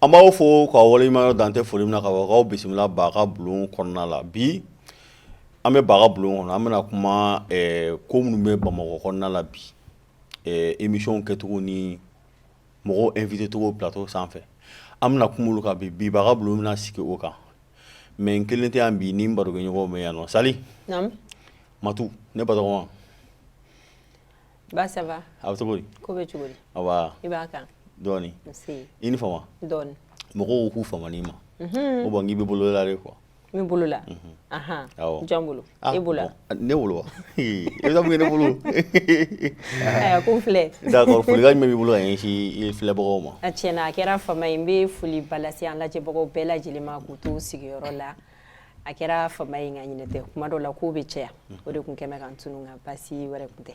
An b'aw fo k'aw waleɲumandɔn dan tɛ foli min na ka ban k'aw bisimila Ba ka bulon kɔnɔna la bi an bɛ Ba ka bulon kɔnɔ an bɛna kuma ko minnu bɛ Bamakɔ kɔnɔna la bi émission kɛcogo ni mɔgɔw invité cogo plateau sanfɛ an bɛna kuma olu kan bi bi Ba ka bulon bɛna sigi o kan mais n kelen tɛ yan bi ni n barokɛɲɔgɔnw bɛ yan nɔ sali matu ne batɔgɔma Ba ça va a bɛ cogo di ko bɛ cogo di awa i b'a kan dɔɔni i ni fama dɔɔni mɔgɔw k'u faman'i ma mhm. o bon k'i bɛ bolo la de quoi N bɛ bolo la jɔn bolo e bolo ne bolo wa e bɛ taa mun kɛ ne bolo ko n filɛ folikan jumɛn b'i bolo ka ɲɛsin filɛbagaw ma a tiɲɛ na a kɛra fama ye n bɛ foliba lase an lajɛbagaw bɛɛ lajɛlen ma k'u to sigiyɔrɔ la a kɛra fama ye nka ɲinɛ tɛ kuma dɔ la kow bɛ caya o de tun kɛlen ka n tunun nka baasi wɛrɛ tun tɛ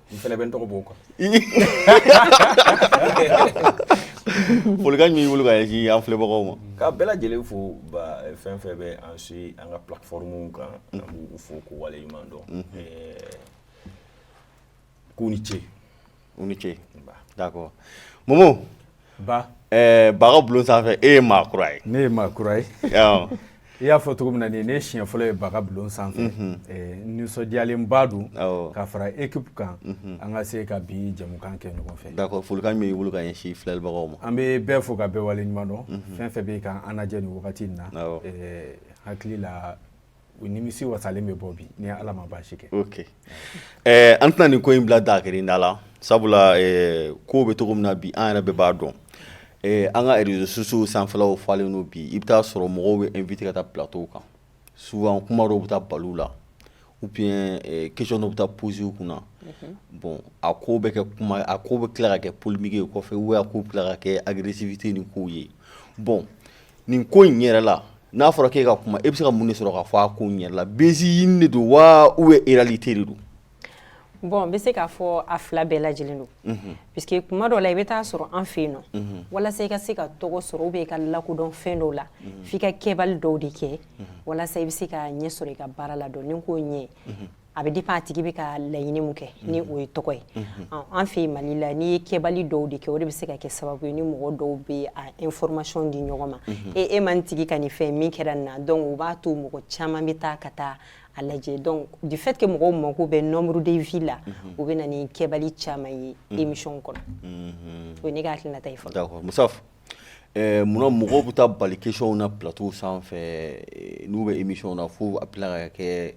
N fana bɛ n tɔgɔ b'o kan folikan jumɛn b'i bolo ka ɲɛsin an filɛbagaw ma ka bɛɛ lajɛlen fo fɛn fɛn bɛ an suivi an ka plateforme kan an b'u fo k'u waleɲuman dɔn k'u ni ce u ni ce d'accord mɔ Ba Ba ka bulon sanfɛ e ye maa kura ye ne ye maa kura ye i y'a fɔ cogo min na nin ne siɲɛ fɔlɔ ye Ba ka bulon sanfɛ nisɔndiyalenba don ka fara équipe kan an ka se ka bi jɛmukan kɛ ɲɔgɔn fɛ d'accord folikan jumɛn b'i bolo ka ɲɛsin filɛbagaw ma an bɛ bɛɛ fo ka bɛɛ waleɲuman dɔn fɛn fɛn bɛ ka an lajɛ nin wagati in na hakili la u nimisi wasalen bɛ bɔ bi ni ala ma baasi kɛ ok ɛɛ an tɛna nin ko in bila dakiri da la sabula ɛɛ ko bɛ cogo min na bi an yɛrɛ bɛɛ b'a dɔn ɛɛ an ka réseaux sociaux sanfɛlaw falen don bi i bɛ taa sɔrɔ mɔgɔw bɛ invité ka taa plateau kan souvent kuma dɔw bɛ taa bal'u la ou bien ɛɛ question dɔw bɛ taa poser u kunna mhm. bon a ko bɛ kɛ kuma a ko bɛ tila ka kɛ polémique ye kɔfɛ ou a ko bɛ tila ka kɛ agressivité ni kow ye bon nin ko in yɛrɛ la n'a fɔra k'e ka kuma e bɛ se ka mun de sɔrɔ ka fɔ a ko in yɛrɛ la buzz ɲini de don wa ou bien réalité de don bon n bɛ se k'a fɔ a fila bɛɛ lajɛlen don mhm. puisque kuma dɔ la i bɛ taa sɔrɔ an fɛ yen nɔ mhm. walasa i ka se ka tɔgɔ sɔrɔ ou bien i ka lakodɔn fɛn dɔw la mhm. f'i ka kɛbali dɔw de kɛ walasa i bɛ se ka ɲɛ sɔrɔ i ka baara la donc nin ko ɲɛ a bɛ dépend a tigi bɛ ka laɲini mun kɛ ni o ye tɔgɔ ye an fɛ yen mali la n'i ye kɛbali dɔw de kɛ o de bɛ se ka kɛ sababu ye ni mɔgɔ dɔw bɛ a information di ɲɔgɔn ma e e man tigi ka nin fɛn min kɛra nin na donc o b'a to mɔgɔ caman bɛ taa ka taa a lajɛ donc du fait que mɔgɔw mako bɛ nombre de vues la u bɛ na ni kɛbali caman ye émission kɔnɔ o ye ne ka hakilinata ye fɔlɔ d'accord Musaf eh, munna mɔgɔw bɛ taa bali questionw na plateau sanfɛ eh, n'u bɛ émission na fo a bɛ tila ka kɛ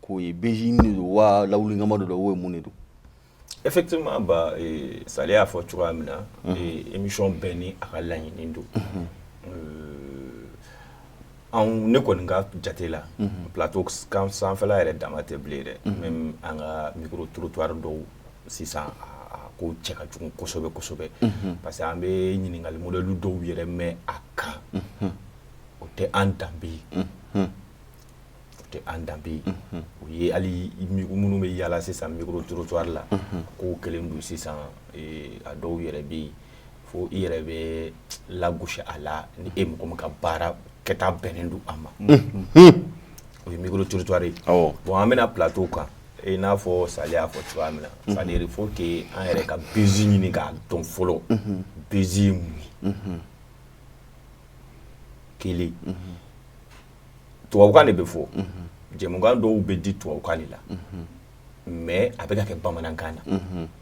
k'o ye buzz ɲini de don wa lawulinkama de don ou bien mun de don effectivement ba eh, Sali y'a fɔ cogoya min na mhm. eh, émission bɛɛ ni a ka laɲini don mhm. euh, anw ne kɔni ka jate la mhm. plateau kan sanfɛla yɛrɛ dama tɛ bilen dɛ même an ka micro trottoir dɔw sisan a ko cɛ ka jugu kosɛbɛ kosɛbɛ parce que an bɛ ɲininkali modèle dɔw yɛrɛ mɛn a kan o tɛ an danbe ye tɛ an danbe ye o ye hali minnu bɛ yaala sisan micro trottoir la ko kelen don sisan a dɔw yɛrɛ bɛ yen fo i yɛrɛ bɛ lagosi a la ni e mɔgɔ min ka baara kɛta bɛnnen don a ma o ye micro trottoir ye bon an bɛna plateau kan i n'a fɔ Sali y'a fɔ cogoya min na c'est-à-dire il faut que an yɛrɛ ka buzz ɲini k'a dɔn fɔlɔ buzz ye mun ye kelen tubabukan de bɛ fɔ jɛmukan dɔw bɛ di tubabukan de la mais a bɛ kɛ bamanankan na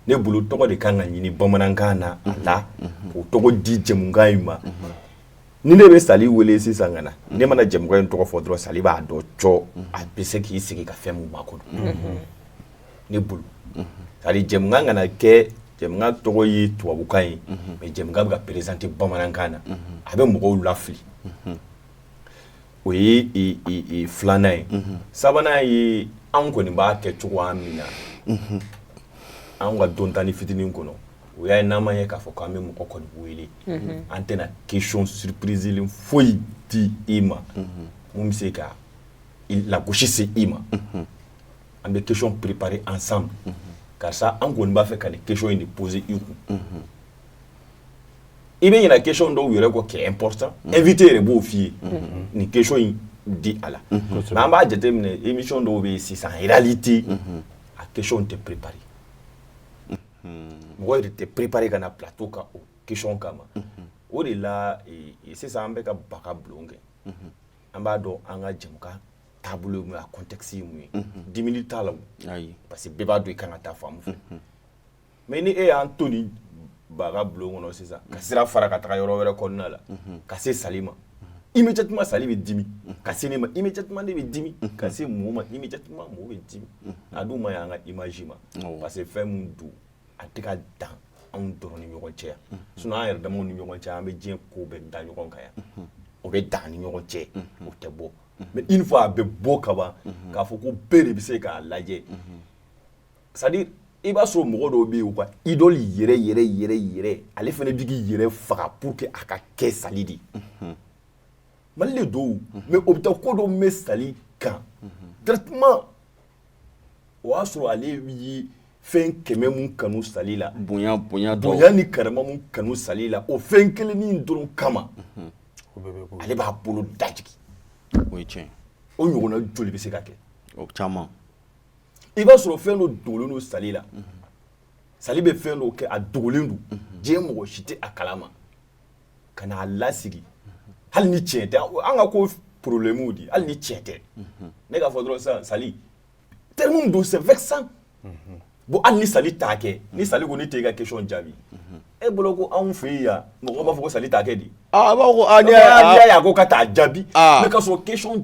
ne bolo tɔgɔ de ka kan ka ɲini bamanankan na a la o tɔgɔ di jɛmukan in ma ni ne bɛ Sali wele sisan ka na ne mana jɛmukan in tɔgɔ fɔ dɔrɔn Sali b'a dɔn cɔ a bɛ se k'i sigi ka fɛn min makɔnɔ ne bolo c'est-à-dire jɛmukan kana kɛ jɛmukan tɔgɔ ye tubabukan ye mais jɛmukan bɛ ka présenter bamanankan na a bɛ mɔgɔw lafili o ye filanan ye sabanan ye anw kɔni b'a kɛ cogoya min na an ka dɔntanin fitinin kɔnɔ o y'a ye n'an ma ye k'a fɔ k'an bɛ mɔgɔ kɔni wele an tɛna question surprise foyi di i ma min bɛ se ka lagosi se i ma an bɛ question préparer ensemble karisa an kɔni b'a fɛ ka nin question in de poser i kun i bɛ ɲɛna ke dɔw yɛrɛ kɔ kɛ pta e vite yɛrɛ b'o f'i ye ni ke in di a la an b'a jateminɛ imi dɔw bɛ yen sisan ali tɛ a ke tɛ ppri mɔgɔ yɛrɛ tɛ ppri ka na pto ka o ke kama ma o de la sisan an bɛka ka bagan bulon kɛ an b'a dɔn an ka jamu taabolo a ko tɛsi ye di t'a la parce que bɛɛ b'a don i ka kan ka taa fan fɛ mais ni e y'an to nin ba ka bulon kɔnɔ sisan ka sira fara ka taga yɔrɔ wɛrɛ kɔnɔna la ka se sali ma immédiatement sali bɛ dimi ka se ne ma immédiatement ne bɛ dimi ka se mo ma immédiatement mo bɛ dimi a dun man ɲi an ka image ma parce que fɛn min don a tɛ ka dan anw dɔrɔn ni ɲɔgɔn cɛ yan sinon an yɛrɛ damaw ni ɲɔgɔn cɛ an bɛ diɲɛ ko bɛɛ da ɲɔgɔn kan yan o bɛ dan ni ɲɔgɔn cɛ o tɛ bɔ mais une fois a bɛ bɔ ka ban k'a fɔ ko bɛɛ de bɛ se k'a lajɛ c'est à dire i b'a sɔrɔ mɔgɔ dɔw bɛ yen u ka idole yɛrɛ yɛrɛ yɛrɛ yɛrɛ ale fana bɛ k'i yɛrɛ faga pour que a ka kɛ sali de mali de don mais o bɛ taa ko dɔ mɛn sali kan directement o y'a sɔrɔ ale ye fɛn kɛmɛ mun kanu sali la bonya ni karama mun kanu sali la o fɛn kelennin dɔrɔn kama ale b'a bolo dajigi o ye tiɲɛ o ɲɔgɔnna joli bɛ se ka kɛ o caman i b'a sɔrɔ fɛn dɔ dogolen don sali la sali bɛ fɛn dɔ kɛ a dogolen don diɲɛ mɔgɔ si tɛ a kalama ka n'a lasigi hali ni tiɲɛ tɛ an ka ko problème di hali ni tiɲɛ tɛ ne k'a fɔ dɔrɔn sisan sali terme don c'est vexant bon hali ni sali t'a kɛ ni sali ko ne tɛ i ka question jaabi e bolo ko anw fɛ yen yan mɔgɔw b'a fɔ ko sali t'a kɛ di a b'a fɔ ko n'i y'a ye a ko k'a t'a jaabi mais ka sɔrɔ question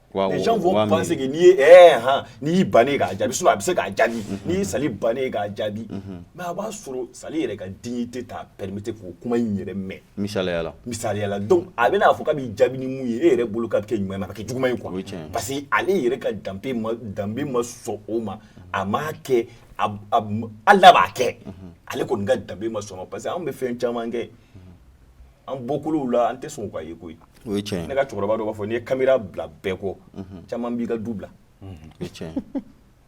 Les gens vont penser que n'i ye ɛɛ han n'i y'i bannen ye k'a jaabi sinon a bɛ se k'a jaabi n'i ye sali bannen ye k'a jaabi mais a b'a sɔrɔ sali yɛrɛ ka dignité t'a permettre k'o kuma in yɛrɛ mɛn misaliya la misaliya la donc a bɛna a fɔ k'a b'i jaabi ni mun ye e yɛrɛ bolo k'a bɛ kɛ ɲuman ye mais a bɛ kɛ juguman ye quoi o ye tiɲɛ ye parce que ale yɛrɛ ka danbe ma danbe ma sɔn o ma a m'a kɛ a b a b hali n'a b'a kɛ ale kɔni ka danbe ma sɔn o ma parce que anw bɛ fɛn caman kɛ an bɔkolow la an tɛ sɔn k'a ye koyi o ye tiɲɛ ne ka cɛkɔrɔba dɔ b'a fɔ n'i ye caméra bila bɛɛ kɔ caman b'i ka du bila o ye tiɲɛ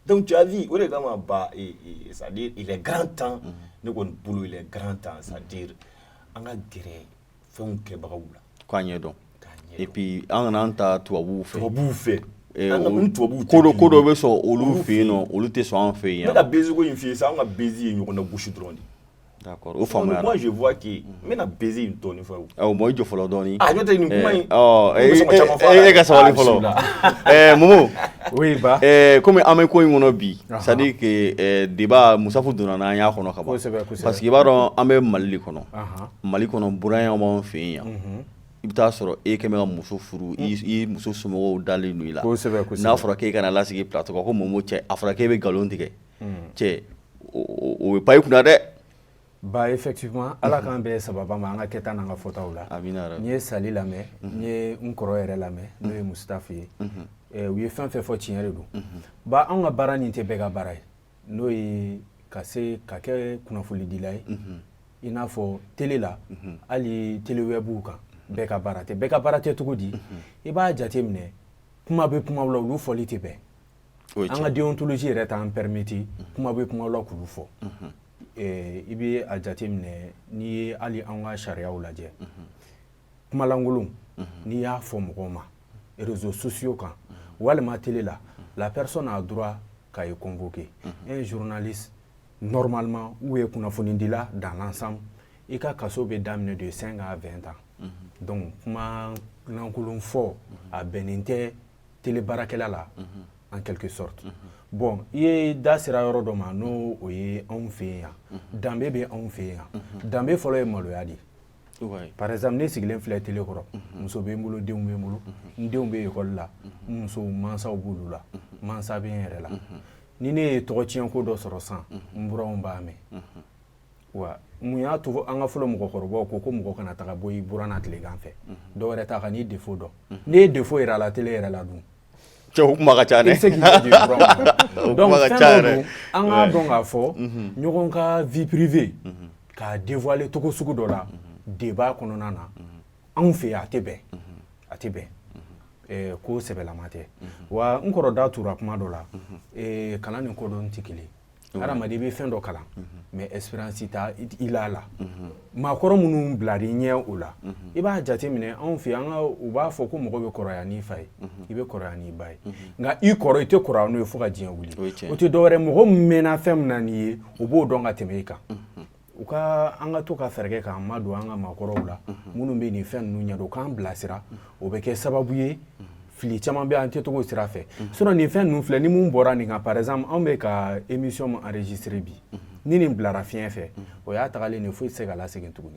donc tu as vu o de kama ba e, e, c'est à dire il est grand temps ne kɔni bolo il est grand temps c'est à dire an ka gɛrɛ fɛnw kɛbagaw la k'a ɲɛ dɔn et puis an kana an ta tubabuw fɛ tubabuw fɛ Eh, ko dɔ ko dɔ bɛ sɔn olu fɛ yen nɔ olu tɛ sɔn an fɛ yen ne ka buzz ko in f'i ye sa an ka buzz ye ɲɔgɔn nagosi dɔrɔn de O fa n bɛna buzz in tɔ fɔ bon i jɔ fɔlɔ dɔɔnin n'o tɛ nin kuma in e ka sabali fɔlɔ momo comme an bɛ ko in kɔnɔ bi c'est à dire que débat mun sabu donna n' an y'a kɔnɔ ka ban parce que i b'a dɔn an bɛ mali kɔnɔ mali kɔnɔ buranya b'anw fɛ yen yan i bɛ taa a sɔrɔ e quand même ka muso furu i muso somɔgɔw dalen don i la n'a fɔra k'e ka na lasigi plateau kan ko momo cɛ a fɔra k'e bɛ nkalon tigɛ cɛ o bɛ pan i kunna dɛ ba effectivement ala k'an bɛɛ sababa ma an ka kɛta n'an ka fɔtaw la n ye sali lamɛn n ye n kɔrɔ yɛrɛ lamɛn n'o ye musitafa ye u ye fɛn fɛn fɔ tiɲɛ de don ba anw ka baara nin tɛ bɛɛ ka baara ye n'o ye ka se ka kɛ kunnafolidila ye i n'a fɔ tele la hali telewɛbuw kan bɛɛ ka baara tɛ bɛɛ ka baara tɛ cogo di i b'a jate minɛ kuma bɛ kuma la olu fɔli tɛ bɛn an ka déontologie yɛrɛ t'an permettre kuma bɛ kuma la k'olu fɔ i bɛ a jate minɛ n'i ye hali an ka sariya lajɛ kumalankolon n'i y'a fɔ mɔgɔw ma réseaux sociaux kan walima tele la la personne a droit ka e convoquer un journaliste normalement ou e kunnafonidila dans l'ensemble i ka kaso bɛ daminɛ de cinq à vingt ans donc kumalankolon fɔ a bɛnnen tɛ tele baarakɛla la en quelque sorte bon i ye da sera yɔrɔ dɔ ma n'o o ye anw fɛ yen yan danbe bɛ anw fɛ yen yan danbe fɔlɔ ye maloya de ye par exemple ne sigilen filɛ tele kɔrɔ muso bɛ n bolo denw bɛ n bolo n denw bɛ ekɔli la n musow mansaw b'olu la mansa bɛ n yɛrɛ la ni ne ye tɔgɔtiɲɛko dɔ sɔrɔ san n buranw b'a mɛn wa mun y'a to an ka fɔlɔ mɔgɔkɔrɔbaw ko ko mɔgɔ kana taga bɔ i buranna tilegan fɛ mhm. dɔ wɛrɛ tɛ a kan'i défaut dɔn mhm. n'i ye défaut yira a la tele yɛrɛ la dun cɛ kuma ka ca dɛ donc fɛn dɔ don an k'a dɔn k'a fɔ mhm. ɲɔgɔn ka vie privée k'a dévoiler togo sugu dɔ la débat kɔnɔna na anw fɛ a tɛ bɛn a tɛ bɛn eh, ko sɛbɛlama tɛ wa n kɔrɔ da tura kuma dɔ la eh, kalan ni kodɔn tɛ kelen Adamaden i bɛ fɛn dɔ kalan mais expérience t'i la a la maakɔrɔ minnu bilar'i ɲɛ o la i b'a jate minɛ anw fɛ yan u b'a fɔ ko mɔgɔ bɛ kɔrɔya n'i fa ye i bɛ kɔrɔya n'i ba ye nka i kɔrɔ i tɛ kɔrɔya n'o ye fo ka diɲɛ wuli o tɛ dɔwɛrɛ mɔgɔ min mɛnna fɛn min na n'i ye o b'o dɔn ka tɛmɛ i kan u ka an ka to ka fɛɛrɛ kɛ k'an madon an ka maakɔrɔw la minnu bɛ nin fɛn ninnu ɲɛdɔn k'an bilasira o bɛ kɛ sababu ye fili caman bɛ an kɛcogo sira fɛ sinon nin fɛn ninnu filɛ ni minnu bɔra nin kan par exemple anw bɛ ka émission min enregistrer bi ni nin bilara fiɲɛ fɛ o y'a tagalen de foyi tɛ se k'a segin tuguni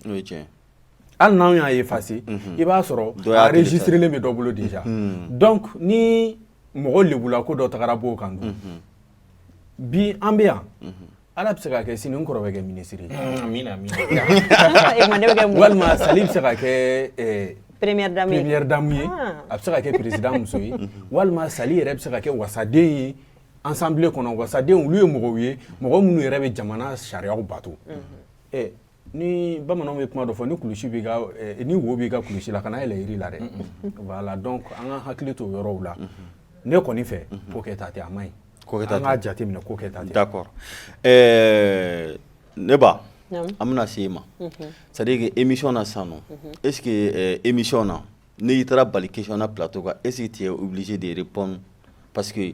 hali n'an y'a effacer i b'a sɔrɔ enregistrelen bɛ dɔ bolo déjà donc ni mɔgɔ lebu ko dɔ tagara b'o kan bi an bɛ yan Ala bɛ se ka kɛ sini n kɔrɔ bɛ kɛ minisiri ye walima sali bɛ se ka kɛ première dame ye a bɛ se ka kɛ président muso ye walima sali yɛrɛ bɛ se ka kɛ wasaden ye assemblée kɔnɔ wasadenw olu ye mɔgɔw ye mɔgɔ minnu yɛrɛ bɛ jamana sariyaw bato ni bamananw bɛ kuma dɔ fɔ ni kulusi b'i ka eh, ni wo b'i ka kulusi la kana yɛlɛ yiri la dɛ voilà donc an ka hakili to yɔrɔw la ne kɔni fɛ ko kɛta tɛ a man ɲi an k'a jate minɛ ko kɛta tɛ d'accord eh, ne ba an bɛna se e ma mhm. c'est à dire que émission na sisan nɔ mhm. est ce que eh, émission na n'i taara bali question na plateau kan est ce que tu es obligé de répondre parce que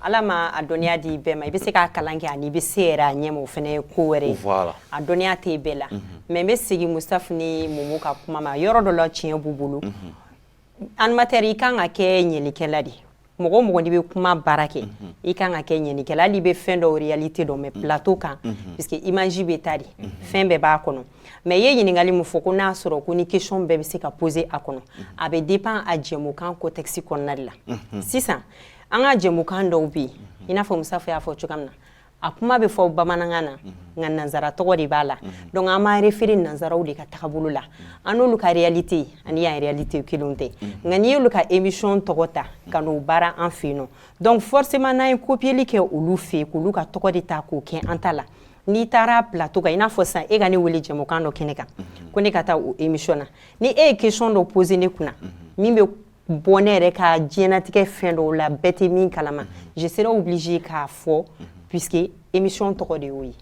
Ala ma a dɔnniya di bɛɛ ma i bɛ se k'a kalan kɛ ani i bɛ se yɛrɛ a ɲɛ ma o fana ye ko wɛrɛ ye a dɔnniya tɛ bɛɛ la mais n bɛ segin Musafa ni Mumu ka kuma ma yɔrɔ dɔ la tiɲɛ b'u bolo animateur i kan ka kɛ ɲinilikɛla de ye mɔgɔ mɔgɔ n'i bɛ kuma baara kɛ i kan ka kɛ ɲinilikɛla hali i bɛ fɛn dɔw réalité dɔn mais plateau kan parce que image bɛ taa de fɛn bɛɛ b'a kɔnɔ mais i ye ɲininkali min fɔ ko n'a y'a sɔrɔ ko ni question bɛɛ bɛ se ka poser a kɔnɔ a bɛ dépend a jɛmukan contexte kɔnɔna de la sisan an ka jɛmukan dɔw bɛ yen i n'a fɔ Musafa y'a fɔ cogoya min na a kuma bɛ fɔ bamanankan na nka nanzara tɔgɔ de b'a la donc an b'a référer nanzaraw de ka tagabolo la an n'olu ka réalité ani yan réalité kelen tɛ nka n'i y'olu ka émission tɔgɔ ta ka n'o baara an fɛ yen nɔ donc forcément n'an ye copier kɛ olu fɛ yen k'olu ka tɔgɔ de ta k'o kɛ an ta la n'i taara plateau kan i n'a fɔ sisan e ka ne weele jɛmukan dɔ kɛnɛ kan ko ne ka taa o émission na ni e ye question dɔ poser ne kunna min bɛ bɔ ne yɛrɛ ka diɲɛnatigɛ fɛn dɔw la bɛɛ tɛ min kalama je serai obligé k'a fɔ puisque émission tɔgɔ de y'o ye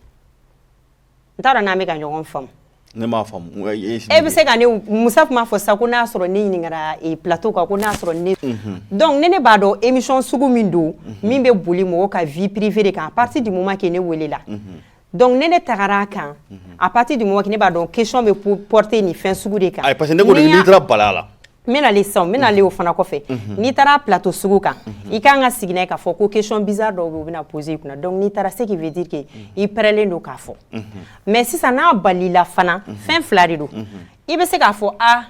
n t'a dɔn n'an bɛ ka ɲɔgɔn faamu ne m'a faamu e bɛ se ka ne Musafa tun b'a fɔ sisan ko n'a y'a sɔrɔ ne ɲininkara eh, plateau kan ko n'a y'a sɔrɔ ne mhm. donc ne ne b'a dɔn émission sugu min don mhm. min bɛ boli mɔgɔ ka vie privée de kan à partir du moment que ne welela mhm. donc ne ne tagara a kan à partir du moment que ne b'a dɔn question bɛ porter nin fɛn sugu de kan ayi parce que ne ko de n'i taara bala la n bɛna le sisan n bɛna le o fana kɔfɛ n'i taara plateau sugu kan i kan ka sigi n'a ye k'a fɔ ko question bizarre dɔw bɛ yen u bɛna poser i kunna donc n'i taara ce qui veut dire que i pɛrɛlen don k'a fɔ mais sisan n'a balila la fana fɛn fila de don i bɛ se k'a fɔ a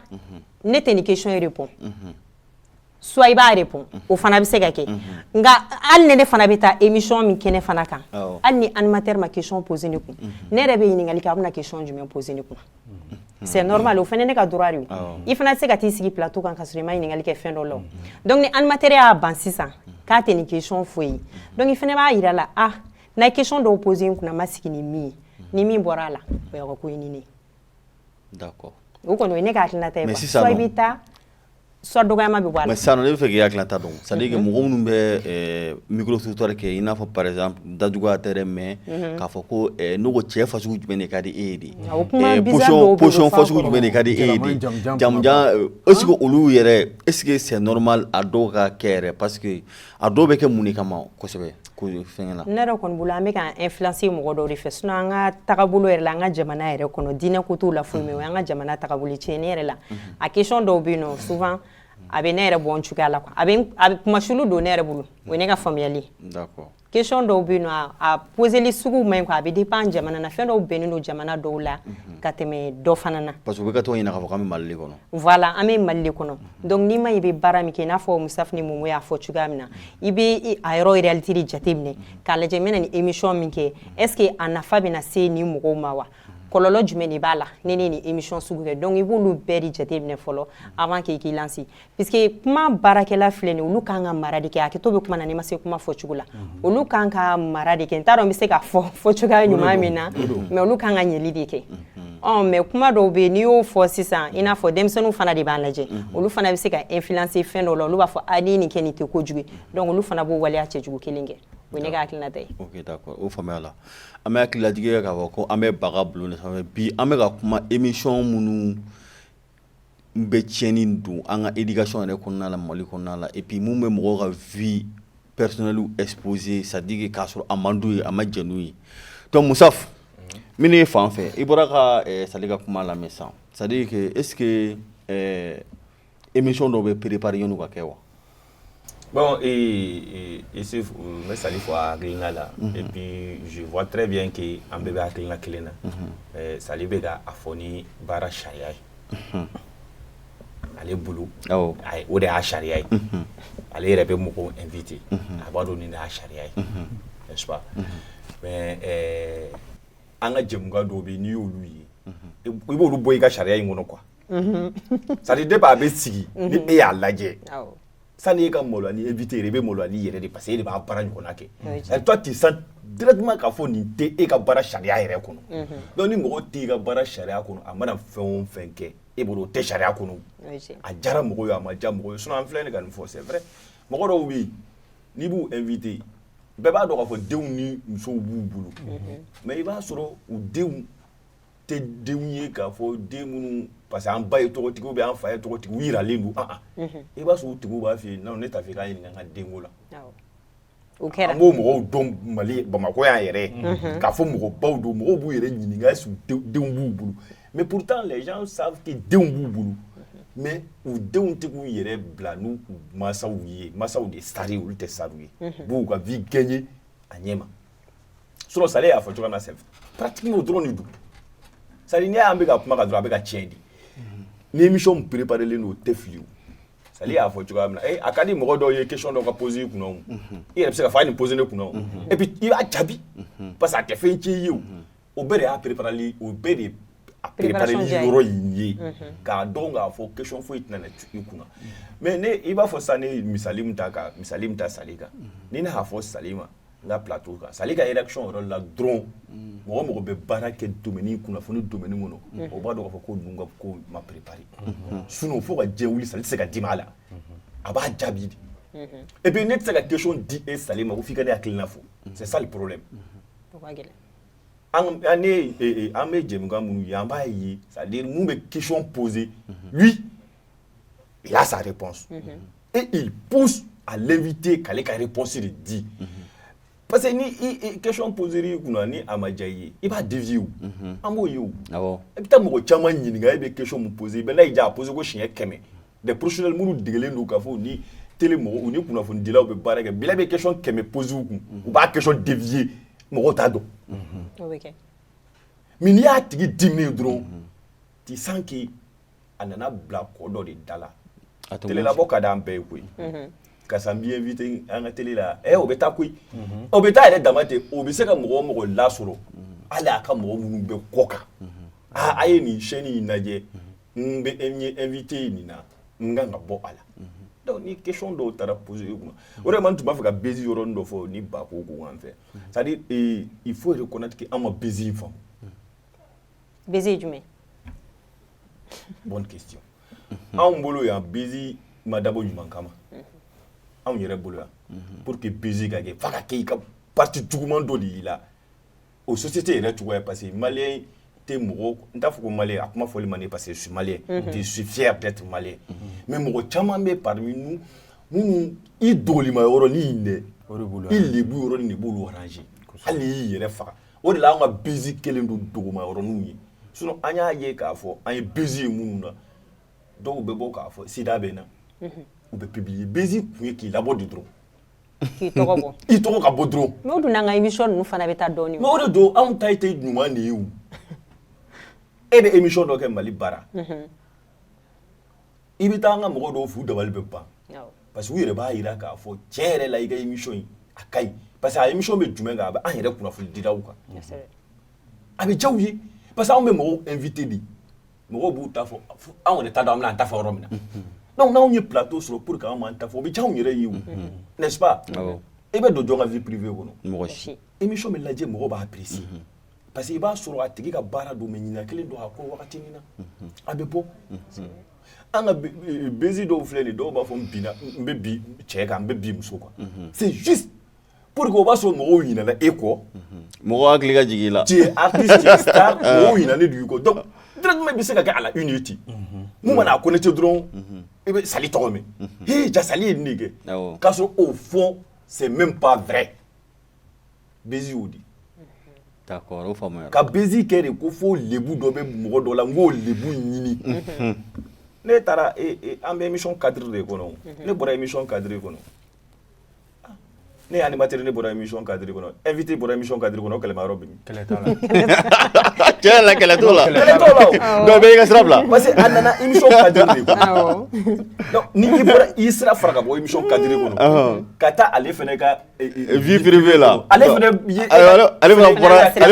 ne tɛ nin question in répond soit i b'a répond o fana bɛ se ka kɛ nka hali ni ne fana bɛ taa émission min kɛnɛ fana kan hali ni animateur ma question poser ne kun ne yɛrɛ bɛ ɲininkali kɛ a bɛna question jumɛn poser ne kun c'est normal o fana ne ka droit de ye i fana tɛ se ka t'i sigi plateau kan ka sɔrɔ i ma ɲininkali kɛ fɛn dɔ la donc ni animateur y'a ban sisan k'a tɛ nin question fɔ i ye donc i fana b'a jira a la ah n'a ye question dɔw poser n kunna n ma sigi ni min ye ni min bɔra a la o y'a ka ko ye ni ne ye d'accord o kɔni o ye ne ka hakilinata ye quoi soit i bɛ taa Sa dɔgɔma bɛ bɔ sa ne bɛ fɛ' hakili ta dɔn sa mɔgɔ minnu bɛ mikurotutɔ kɛ i n'a fɔ paz dajuguya tɛ mɛ k'a fɔ ko n'u ko cɛ faso jumɛn de ka di e de yesɔn faso jumɛn de ka di e ese olu yɛrɛ e sigi sɛɔnɔrɔma a dɔw ka kɛ pa A dɔw bɛ kɛ mun de kama kosɛbɛ ko fɛn la ne yɛrɛ kɔni bolo an bɛ ka influencer mɔgɔ dɔw de fɛ sinon an ka tagabolo yɛrɛ la an ka jamana yɛrɛ kɔnɔ diinɛ ko t'o la foyi mais an ka jamana tagabolo tiɲɛni yɛrɛ la a question dɔw bɛ yen nɔ souvent a bɛ ne yɛrɛ bɔ cogoya la quoi a bɛ comme insulte don ne yɛrɛ bolo o ye ne ka faamuyali question dɔw bɛ yen nɔ a poseli sugu man ɲi quoi a bɛ dépend jamana na fɛn dɔw bɛnnen don jamana dɔw la ka tɛmɛ dɔ fana na parce que u bɛ ka to ɲinɛ k'an bɛ mali kɔnɔ voilà an bɛ mali kɔnɔ donc n'i ma i bɛ baara min kɛ i n'a fɔ Musafu ni Momo y'a fɔ cogoya min na i bɛ a yɔrɔ réalité de jateminɛ k'a lajɛ n bɛna nin émission min kɛ est ce que a nafa bɛna se nin mɔgɔw ma wa kɔlɔlɔ jumɛn de b'a la ni ne nin émission sugu kɛ donc i b'olu bɛɛ de jateminɛ fɔlɔ avant que i k'i lancer puisque kuma baarakɛla filɛ nin olu kan ka mara de kɛ hakɛto bɛ kuma na n'i ma se kuma fɔcogo la olu kan ka mara de kɛ n t'a dɔn n bɛ se ka fɔ fɔ cogoya ɲuman min na mais olu kan ka ɲɛli de kɛ mais kuma dɔw bɛ yen n'i y'o fɔ sisan i n'a fɔ denmisɛnninw fana de b'a lajɛ olu fana bɛ se ka influencer fɛn dɔw la olu b'a fɔ a ni nin kɛ nin tɛ kojugu ye donc olu fana b'o waleya cɛjugu kelen kɛ o ye ne ka hakilinata ye o faamuyala an bɛ hakililajigi kɛ k'a fɔ ko an bɛ baga bulon de sanfɛ bi an bɛ ka kuma émission minnu n bɛ tiɲɛni don an ka ikasi yɛrɛ kɔnɔna la mali kɔnɔna la epi minnu bɛ mɔgɔ ka v pɛresi epse sadiki k'a sɔrɔ a mandi ye a ma jɛnɛ ye musa minnu ye fan fɛ i bɔra ka sa ka kuma la sa sadike eke emi dɔw bɛ pereprinw ka kɛ wa Bon ee ici n bɛ Sali fo a hakilina la et puis je vois très bien que an bɛɛ bɛ hakilina kelen na Sali bɛ ka a fɔ ni baara sariya ye ale bolo o de y'a sariya ye ale yɛrɛ bɛ mɔgɔw invité a b'a dɔn nin de y'a sariya ye n'est ce pas an ka jɛmukan dɔw bɛ n'i y'olu ye i b'olu bɔ i ka sariya in kɔnɔ quoi c'est à dire depuis a bɛ sigi ni e y'a lajɛ sani e ka maloya ni invité ye i bɛ maloya n'i yɛrɛ de parce que e de b'a baara ɲɔgɔn kɛ et toi tu sens directement k'a fɔ nin tɛ e ka baara sariya yɛrɛ kɔnɔ donc ni mɔgɔ t'i ka baara sariya kɔnɔ a mana fɛn o fɛn kɛ e bolo o tɛ sariya kɔnɔ a diyara mɔgɔ ye a ma diya mɔgɔ ye sinon an filɛ nin ka nin fɔ c'est vrai mɔgɔ dɔw bɛ yen n'i b'u invité yen bɛɛ b'a dɔn k'a fɔ denw ni musow b'u bolo mais i b'a sɔrɔ u denw tɛ denw ye k'a fɔ den minnu parce que an ba ye tɔgɔtigi ou bien an fa ye tɔgɔtigi u jiralen don an i b'a sɔrɔ u tigiw b'a fɔ non ne t'a fɛ ka ɲininka n ka denko la o kɛra an b'o mɔgɔw dɔn mali bamakɔ yan yɛrɛ k'a fɔ mɔgɔ baw don mɔgɔw b'u yɛrɛ ɲininka est ce que denw b'u bolo mais pourtant les gens savent que denw b'u bolo mais u denw tɛ k'u yɛrɛ bila n'u mansaw ye mansaw de star olu tɛ star ye b'u ka vie gagner a ɲɛ ma sale y'a fɔ cogo na sɛbɛn patigi o dɔrɔn de don sari n'i y'an bɛ ka kuma ka dɔrɔn a bɛ ka tiɲɛ di ni mi pereplen don tɛ fili sa y'a fɔ cogoya min a ka di mɔgɔ dɔw ye kecɔn dɔw ka pɔosi kun i yɛrɛ bɛ se ka fa ni pɔosi ne kun i b'a jaabi pa que a tɛ fɛn ci ye o bɛɛ de y'a perepli o bɛɛ de a perepli yɔrɔ in ye k'a dɔn k'a fɔ kecon foyi tɛna tu kunna mɛ i b'a fɔ sa ne misali min ta ka misali min ta sa kan ni ne'a fɔ sa ma n ka pto kan sa ka yɛrɛ son yɔrɔ la dɔrɔn mɔgɔ mɔgɔ bɛ baara kɛ don kunnafoni don kɔnɔ o b'a dɔn fɔ ko dun ka ko ma perepri sun fo ka jɛ wuli sa se ka di' la a b'a jaabi di epi ne tɛ se ka kec di e sa ma ko' i ka hakilikiina fo sa poro an an ne ye e, e, an bɛ jɛmukan minnu ye an b'a ye c'est à dire mun bɛ question poser lui il a sa réponse et il pousse à l'invité k'ale ka réponse de di parce que ni i i question poser i kunna ni a ma diya i ye i b'a dévier o an b'o ye o awɔ i bɛ taa mɔgɔ caman ɲininka e bɛ question mun poser bɛɛ n'a y'i diya a poser ko siɲɛ kɛmɛ des professionnels minnu degelen don k'a fɔ ni tele mɔgɔw u ni kunnafonidilaw bɛ baara kɛ bila bɛ question kɛmɛ poser u kun u b'a question dévier mɔgɔw t'a dɔn o bɛ kɛ mais n'i y'a tigi diminen ye dɔrɔn tu sens que a nana bila kɔ dɔ de da la A tɛ telelabɔ ka d'an bɛɛ ye koyi karisa n b'i inviter an ka tele la ɛ o bɛ taa koyi o bɛ taa yɛrɛ dama ten o bɛ se ka mɔgɔ o mɔgɔ lasɔrɔ hali a ka mɔgɔ minnu bɛ kɔ kan aa a ye nin chaîne in lajɛ n bɛ n ye invité ye nin na n kan ka bɔ a la donc ni question dɔw taara poser i kunna o de kama n tun b'a fɛ ka bezi yɔrɔnin dɔ fɔ ni ba ko ko an fɛ c'est à dire eh, il faut reconnaître que an ma bezi in faamu bezi ye jumɛn bonne question anw bolo yan bezi ma dabɔ ɲuman kama anw yɛrɛ bolo yan pour que bezi ka kɛ f'a ka kɛ i ka parti juguman dɔ de y'i la o société yɛrɛ cogoya parce que malien tɛ mɔgɔ n t'a fɔ ko malien a kuma fɔli man di parce que je suis malien je suis fier d'être malien mais mɔgɔ caman bɛ parmi nous minnu i dogolima yɔrɔnin dɛ o i lebu yɔrɔnin de b'u arranger hali n'i y'i yɛrɛ faga o de la an ka bezi kɛlen don duguma yɔrɔninw ye sinon an y'a ye k'a fɔ an ye bezi ye minnu na dɔw bɛ bɔ k'a fɔ sida bɛ n na u bɛ publier bezi kun ye k'i labɔ de dɔrɔn K'i tɔgɔ bɔ i tɔgɔ ka bɔ dɔrɔn mais o dun n'an ka émission ninnu fana bɛ taa dɔɔnin o de don anw ta e tɛ ɲuman de ye e bɛ émission dɔ kɛ mali bara i bɛ taa an ka mɔgɔ dɔw f'u dabali bɛ ban parce que u yɛrɛ b'a jira k'a fɔ tiɲɛ yɛrɛ la i ka émission in a ka ɲi parce que a émission bɛ jumɛn kan a bɛ an yɛrɛ kunnafonidilaw kan a bɛ diya u ye parce que anw bɛ mɔgɔw inviter de mɔgɔw b'u ta fɔ anw yɛrɛ t'a dɔn an bɛna an ta fɔ yɔrɔ min na donc n'anw ye plateau sɔrɔ pour que anw m'an ta fɔ o bɛ diya anw yɛrɛ ye o n'est-ce pas i bɛ don jɔn ka vie privée kɔnɔ mɔgɔ si émission bɛ lajɛ mɔgɔw b'a apprécier parce que i b'a sɔrɔ a tigi ka baara don mais ɲinan kɛlen don a kɔ wagati min na a bɛ bɔ an ka buzz dɔw filɛ nin dɔw b'a fɔ n binna n bɛ bin cɛ kan n bɛ bin muso kan c'est juste P o b'a sɔrɔ mɔgɔw ɲɛna e kɔ mɔgɔ hakili ka jigin i la ɲin de dugu kɔ dɔrɔn bɛ se ka kɛ ala i ci mun mana a ko ne ce dɔrɔn i bɛ sa tɔgɔ min h ja sali ye nin kɛ k'a sɔrɔ o fɔ sɛ bɛ pan fɛɛrɛ binz o di ka binz kɛ de ko fo bbu dɔ bɛ mɔgɔ dɔ la n k'o bbu ɲini ne taara an bɛ imi kadiri de kɔnɔ ne bɔra imi kadiri kɔnɔ Ne y' materi ne bɔra emi kadi kɔnɔ e vit bɔra emi kadi kɔnɔ kɛlɛ yɔrɔ bi kɛlɛ la kɛlɛ t' la dɔw bɛ i ka sira bila parce que a nana imi ni i bɔra i sira fara ka bɔ imi kadi kɔnɔ ka taa ale fana ka vvp la ale ale ale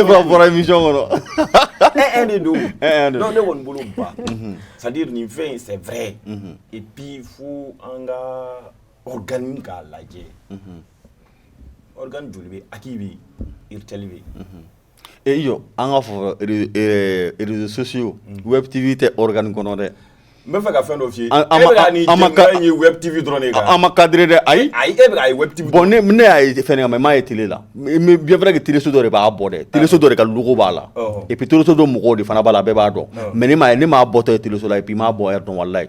bɔra imi kɔnɔ e de don ne kɔni bolo ba sadi nin fɛn in sɛ ye i bi fo an ka organe k'a lajɛ organe joli bɛ HAC bɛ URTEL bɛ e i jɔ an k'a fɔ réseaux sociaux web TV tɛ organe kɔnɔ dɛ n b'a fɛ ka fɛn dɔ f'i ye e bɛ ka nin jɛmukan ye web TV dɔrɔn de kan an ma cadrer dɛ ayi ayi e bɛ k'a ye web TV bon ne ne y'a ye fɛn kan mais n m'a ye télé la mais bien vrai que télé so dɔ de b'a bɔ dɛ télé so dɔ de ka logo b'a la et puis télé so dɔ mɔgɔw de fana b'a la bɛɛ b'a dɔn mais ne m'a ye ne m'a bɔtɔ ye télé so la et puis n m'a bɔ heure dɔn walahi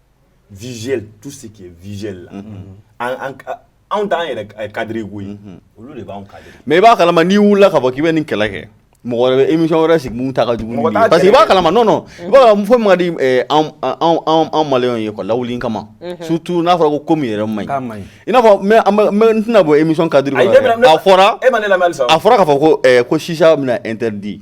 visuel tout ce qui est visuel la an anw t'an yɛrɛ cadrer ko ye olu de b'anw cadrer mais i b'a kalama n'i wulila k'a fɔ k'i bɛ nin kɛlɛ kɛ mɔgɔ wɛrɛ bɛ émission wɛrɛ sigi mun ta ka jugu ni ye parce que i b'a kalama non non i b'a kalama fo min ka di anw anw anw maliyɛnw ye quoi lawuli kama surtout n'a fɔra ko ko min yɛrɛ man ɲi i n'a fɔ n bɛ n tɛna bɔ émission cadre kɔnɔ a fɔra e ma ne lamɛn halisa a fɔra k'a fɔ ko ko chicha bɛna interdit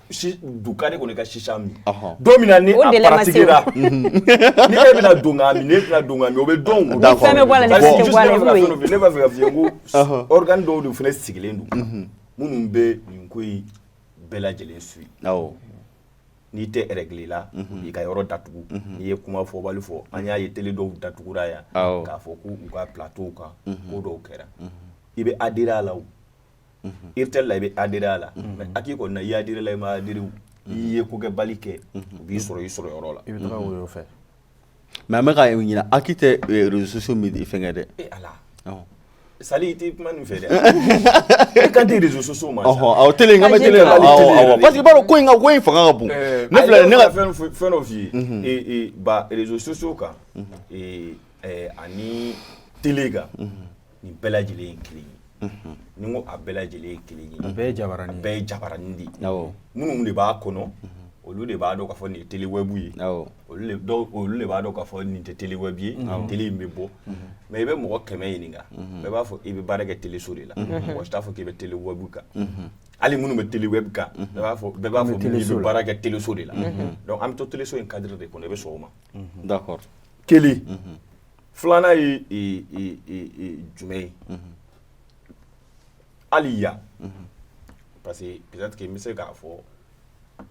d'accord e kɔni ka chicha min don min na ni a pratiquera ni e bɛna don k'a min ne tɛna don k'a min o bɛ dɔn ne b'a fɛ ka f'i ye ko organe dɔw de fana sigilen don minnu bɛ nin ko in bɛɛ lajɛlen suivre n'i tɛ règle la i ka yɔrɔ datugu n'i ye kuma fɔbali fɔ an y'a ye télé dɔw datugura yan k'a fɔ k'u ka plateauw kan ko dɔw kɛra i bɛ a dira a la i tɛ la i bɛ adira a la mɛ aki ko na yadira la i ma adri i ye ko kɛ bali kɛ u b'i sɔrɔ i sɔrɔ yɔrɔ la i bɛ taa fɛ mɛ an bɛ ka ɲin aki tɛ soso min i fɛnkɛ dɛ sa i tɛ kuma nin fɛ dɛ e ka di soso ma aw te ka ma parce b'a ko in ka ko in fanga ka bon ne fila ne ka fɛn fɛn dɔ f'i ye ba soso kan ani t kan nin bɛɛ lajɛlen ye kelen ye mhm. ni ko a bɛɛ lajɛlen ye kelen ye bɛɛ ye jabaranin bɛɛ ye jabaranin de minnu de b'a kɔnɔ mhm. olu de b'a dɔn k'a fɔ nin ye telewɛbu ye olu de b'a dɔn k'a fɔ nin tɛ telewɛbu ye nin tele in bɛ bɔ mhm. mais i bɛ mɔgɔ kɛmɛ ɲininka bɛɛ b'a fɔ i bɛ baara kɛ teleso de la mɔgɔ si t'a fɔ k'i bɛ telewɛbu kan hali minnu bɛ telewɛbu kan bɛɛ b'a fɔ bɛɛ b'a fɔ i bɛ baara kɛ teleso de la an bɛ to teleso in cadre de kɔnɔ i bɛ sɔn o ma kelen filanan ye jumɛn ye hali yan parce que peut-être n bɛ se k'a fɔ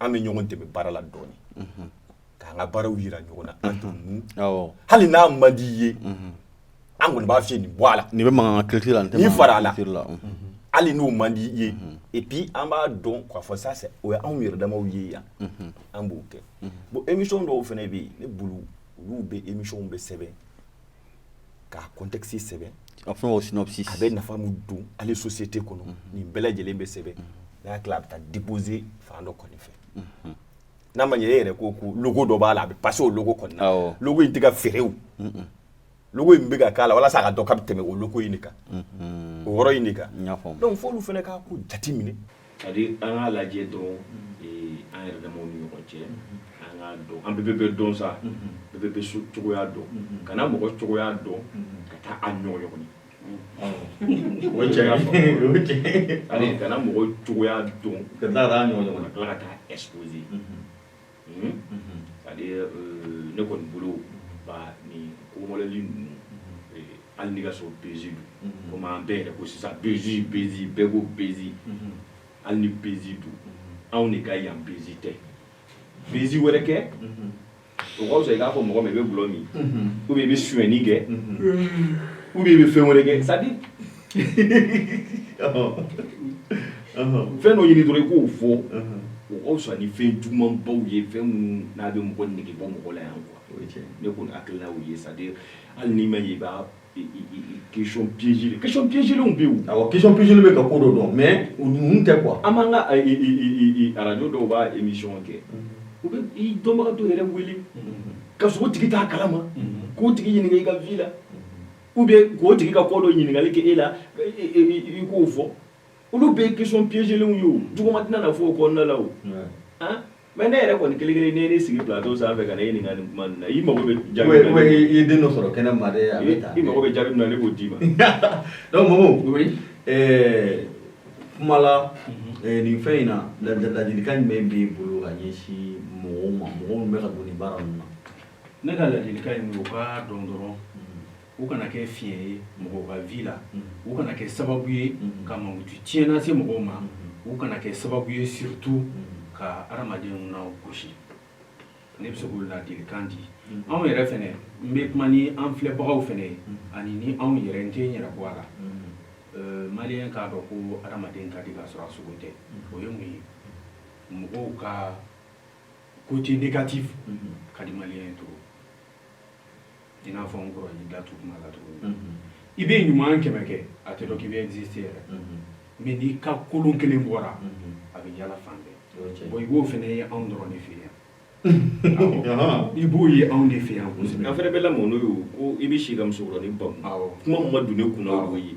an bɛ ɲɔgɔn dɛmɛ baara la dɔɔnin k'an ka baaraw jira ɲɔgɔn na an tun hali n'a man di ye an kɔni b'a fɔ nin bɔ a la nin bɛ makan ki la nin fara a la hali n'o man di ye et puis an b'a dɔn k'a fɔ sa o ye anw yɛrɛ damaw ye yan an b'o kɛ bon émission dɔw fana bɛ yen ne bolo olu bɛ émissionw bɛɛ sɛbɛn k'a contexte sɛbɛn a fɛn o synopsis a bɛ nafa min don hali société kɔnɔ mhm. nin bɛɛ lajɛlen bɛ sɛbɛn mhm. n'a y'a tila a bɛ taa déposer fan dɔ kɔni fɛ mhm. n'a ma ɲɛ e yɛrɛ ko ko logo dɔ b'a la a bɛ passer o logo kɔni na logo in tɛ ka feere o logo in bɛ ka k'a la walasa a ka dɔn k'a bɛ tɛmɛ o logo in de kan o yɔrɔ in de kan donc f'olu fana k'a ko jate minɛ c'est-à-dire an k'a lajɛ dɔrɔn an yɛrɛ damaw ni ɲɔgɔn cɛ an k'a dɔn an bɛɛ bɛ dɔn sa bɛɛ bɛ so cogoya dɔn kana mɔgɔ cogoya dɔn ka taa a ɲɔgɔn ɲɔgɔn o cɛ ka fɔ kana mɔgɔ cogoya dɔn ka taa a ɲɔgɔn ɲɔgɔn ka tila ka taa exposer ne kɔni bolo nin koli ninnu hali n'i k'a sɔrɔ buzz don comme an bɛɛ yɛrɛ ko sisan buzz buzz bɛɛ ko buzz hali ni buzz don anw de ka yan buzz tɛ buzz wɛrɛ kɛ o ka fisa i k'a fɔ mɔgɔ ma i bɛ dulɔ min ou bien i bɛ sonyɛni kɛ ou bien i bɛ fɛn wɛrɛ kɛ c'est-à-dire fɛn dɔ ɲini dɔrɔn i k'o fɔ o ka fisa ni fɛn jugumanbaw ye fɛn minnu n'a bɛ mɔgɔ nege bɔ mɔgɔ la yan quoi ne kɔni hakilina y'o ye c'est à dire hali n'i ma ye i b'a question piégée question piégée lenw bɛ yen awɔ question piégée bɛ ka ko dɔ dɔn mais o ninnu tɛ quoi an b'an ka radio dɔw b'a émission kɛ u bɛ i dɔnbaga dɔ yɛrɛ wele ka sɔrɔ o tigi t'a kalama k'o tigi ɲininka i ka vie la ou bien k'o tigi ka ko dɔ ɲininkali kɛ e la i k'o fɔ olu bɛɛ question piégéelenw ye o juguman tɛna na fɔ o kɔnɔnala o mais ne yɛrɛ kɔni kelen kelen ne ne sigi plateau sanfɛ fɛ ka e ɲininka nin kuma na i mago bɛ ja i den dɔ sɔrɔ kɛnɛ ma i mago bɛ jaabi min na ne b'o d'i ma donc Momo kuma la nin fɛn in na ladilikan jumɛn b'i bolo ka ɲɛsin mɔgɔw ma mɔgɔw minnu bɛ ka don nin baara ninnu na Ne ka ladilikan ye min ye u k'a dɔn dɔrɔn u kana kɛ fiɲɛ ye mɔgɔw ka vie la u kana kɛ sababu ye ka mankutu tiɲɛ lase mɔgɔw ma u kana kɛ sababu ye surtout ka hadamadenw nagosi ne bɛ se k'o ladilikan di anw yɛrɛ fɛnɛ n bɛ kuma ni an filɛbagaw fɛnɛ ye ani ni anw yɛrɛ n tɛ n yɛrɛ bɔ a la euh, maliyɛn k'a dɔn ko hadamaden ka di ka sɔrɔ a sogo tɛ o ye mun ye mɔgɔw ka côté négatif ka di maliyɛn ye trop i n'a fɔ n kɔrɔ y'i da tu kuma la cogo min i bɛ ɲuman kɛmɛ kɛ a tɛ dɔn k'i bɛ exister yɛrɛ mais n'i ka kolon kelen bɔra a bɛ yala fan bɛɛ bon i b'o fɛnɛ ye anw dɔrɔn de fɛ yan i b'o ye anw de fɛ yan kosɛbɛ an fɛnɛ bɛ lamɔ n'o ye ko i bɛ si ka musokɔrɔnin bamu kuma min ma don ne kun na o y'o ye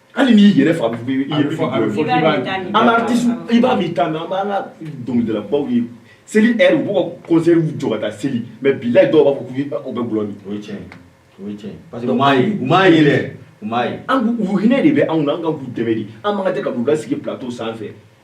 hali n'i yɛrɛ fa bɛ i yɛrɛ fa bɛ fɔ k'i b'a min an bɛ artiste i b'a min ta mais an b'an ka dɔnkilidalabaw ye seli heure u b'u ka concertw jɔ ka taa seli mais bilayi dɔw b'a fɔ k'u u bɛ gulɔ min o ye tiɲɛ ye o ye tiɲɛ ye parce que u m'a ye u m'a ye dɛ u m'a ye an u hinɛ de bɛ anw na an ka k'u dɛmɛ de an man kan tɛ ka k'u ka sigi plateau sanfɛ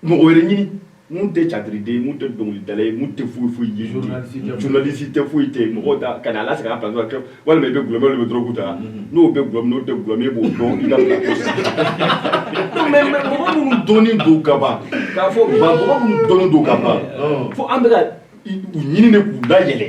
Mɔgɔ wɛrɛ ɲini minnu tɛ catiriden minnu tɛ dɔnkilidala ye tɛ foyi ye journaliste tɛ foyi tɛ mɔgɔ ta ka a lasegin pa kɛ walima i bɛ glɔ bɛ dɔrɔgu ta n'o bɛ glɔ n'o tɛ glɔ b'o dɔn i minnu dɔnnen don kaban k'a fɔ dɔnnen don kaban fo an bɛ ka u ɲini de k'u da yɛlɛ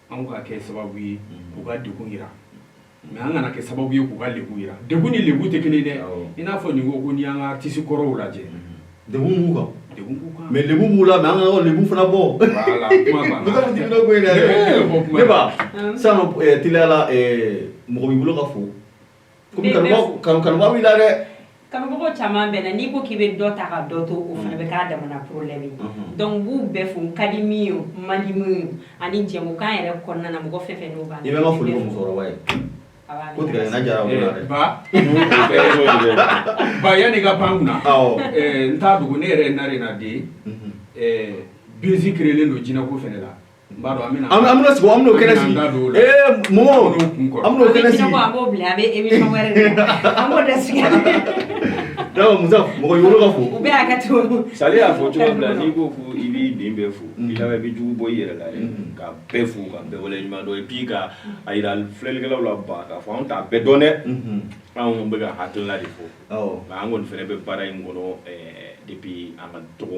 Anw ka kɛ sababu ye k'u ka degun jira mais an kana kɛ sababu ye k'u ka lebu jira, degun ni lebu tɛ kelen ye dɛ, awɔ, i n'a fɔ nin ko ko n'i y'an ka artistes kɔrɔw lajɛ, unhun, degun b'u kan, degun b'u kan, mais lebu b'u la mais an kana u lebu fana bɔ, voilà kuma banna, ne bɛ taa ko in na dɛ, ne ba sisan nɔ ɛɛ teliya la ɛɛ mɔgɔ b'i bolo ka fo Kanubaga b'i la dɛ kanubaga caman bɛ n na n'i ko k'i bɛ dɔ ta ka dɔ to o fana bɛ k'a damana problème donc b'u bɛɛ fo ka di min ye man di min ye ani jɛmukan yɛrɛ kɔnɔna na mɔgɔ fɛn fɛn ban i bɛ foli ye ba yanni ka pan kunna n t'a dogo ne yɛrɛ ye Narena den bezi créelen don jinɛko fana la An sigi an kɛnɛ sigi mɔ an kɛnɛ sigi mɔgɔ yɔrɔ ka fo Sali y'a fɔ cogo min na n'i ko ko i b'i den bɛɛ fo i laban i bɛ jugu bɔ i yɛrɛ la ka bɛɛ fo ka bɛɛ wale ɲuman dɔn et puis ka a yira filɛlikɛlaw la ban k'a fɔ an t'a bɛɛ dɔn dɛ anw bɛ ka hakilila de fɔ nka an kɔni fana bɛ baara in kɔnɔ depuis an ka dɔgɔ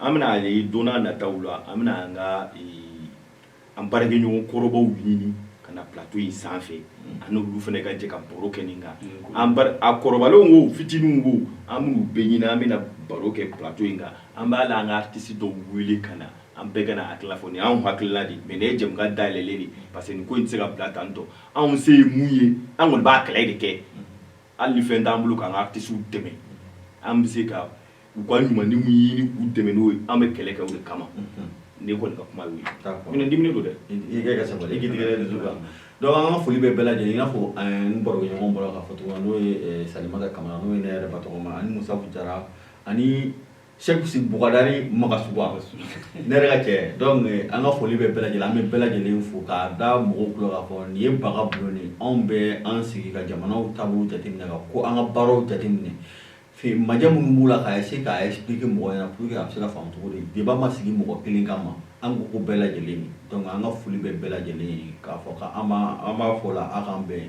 an bɛna ye don n'a nataw la an bɛna an ka an baarakɛɲɔgɔn kɔrɔbaw ɲini ka na plateau in sanfɛ ani olu fana ka jɛ ka baro kɛ nin kan a kɔrɔbalenw ko fitininw ko an b'u bɛɛ ɲini an bɛna baro kɛ plateau in kan an b'a la an ka artiste dɔw wele ka na an bɛɛ ka an hakilila fɔ nin y'anw hakilila de mais nin ye jɛmu dayɛlɛlen de parce que nin ko in tɛ se ka bila tan tɔ anw se ye mun ye an kɔni b'a kɛlɛ de kɛ hali ni fɛn t'an bolo k'an ka artisiw dɛmɛ an bɛ se ka u ka ɲumanni min ɲini k'u dɛmɛ n'o ye an bɛ kɛlɛ kɛ o de kama ne kɔni ka kuma y'o ye min diminen don dɛ i ka sabali i k'i tigɛ dusu kan donc an ka foli bɛ bɛɛ lajɛlen i n'a fɔ n barokɛɲɔgɔn bɔra k'a fɔ cogo min na n'o ye Salimata Kamara n'o ye ne yɛrɛ ba tɔgɔma ani Musafu Jara ani Sɛku Bukadari Magasuba ne yɛrɛ ka cɛ donc an ka foli bɛ bɛɛ lajɛlen an bɛ bɛɛ lajɛlen fo k'a da mɔgɔw tulo k'a fɔ nin ye baro bulon de ye anw bɛ an sigi ka jamanaw taabolo jateminɛ ka ko an ka baaraw jateminɛ fe majɛ minnu b'u la k'a essayer k'a expliquer mɔgɔ ɲɛna pour que a bɛ se ka faamu cogo di débat ma sigi mɔgɔ kelen kama an ko ko bɛɛ lajɛlen donc an ka foli bɛ bɛɛ lajɛlen ye k'a fɔ k'an b'a an b'a fɔ o la a k'an bɛn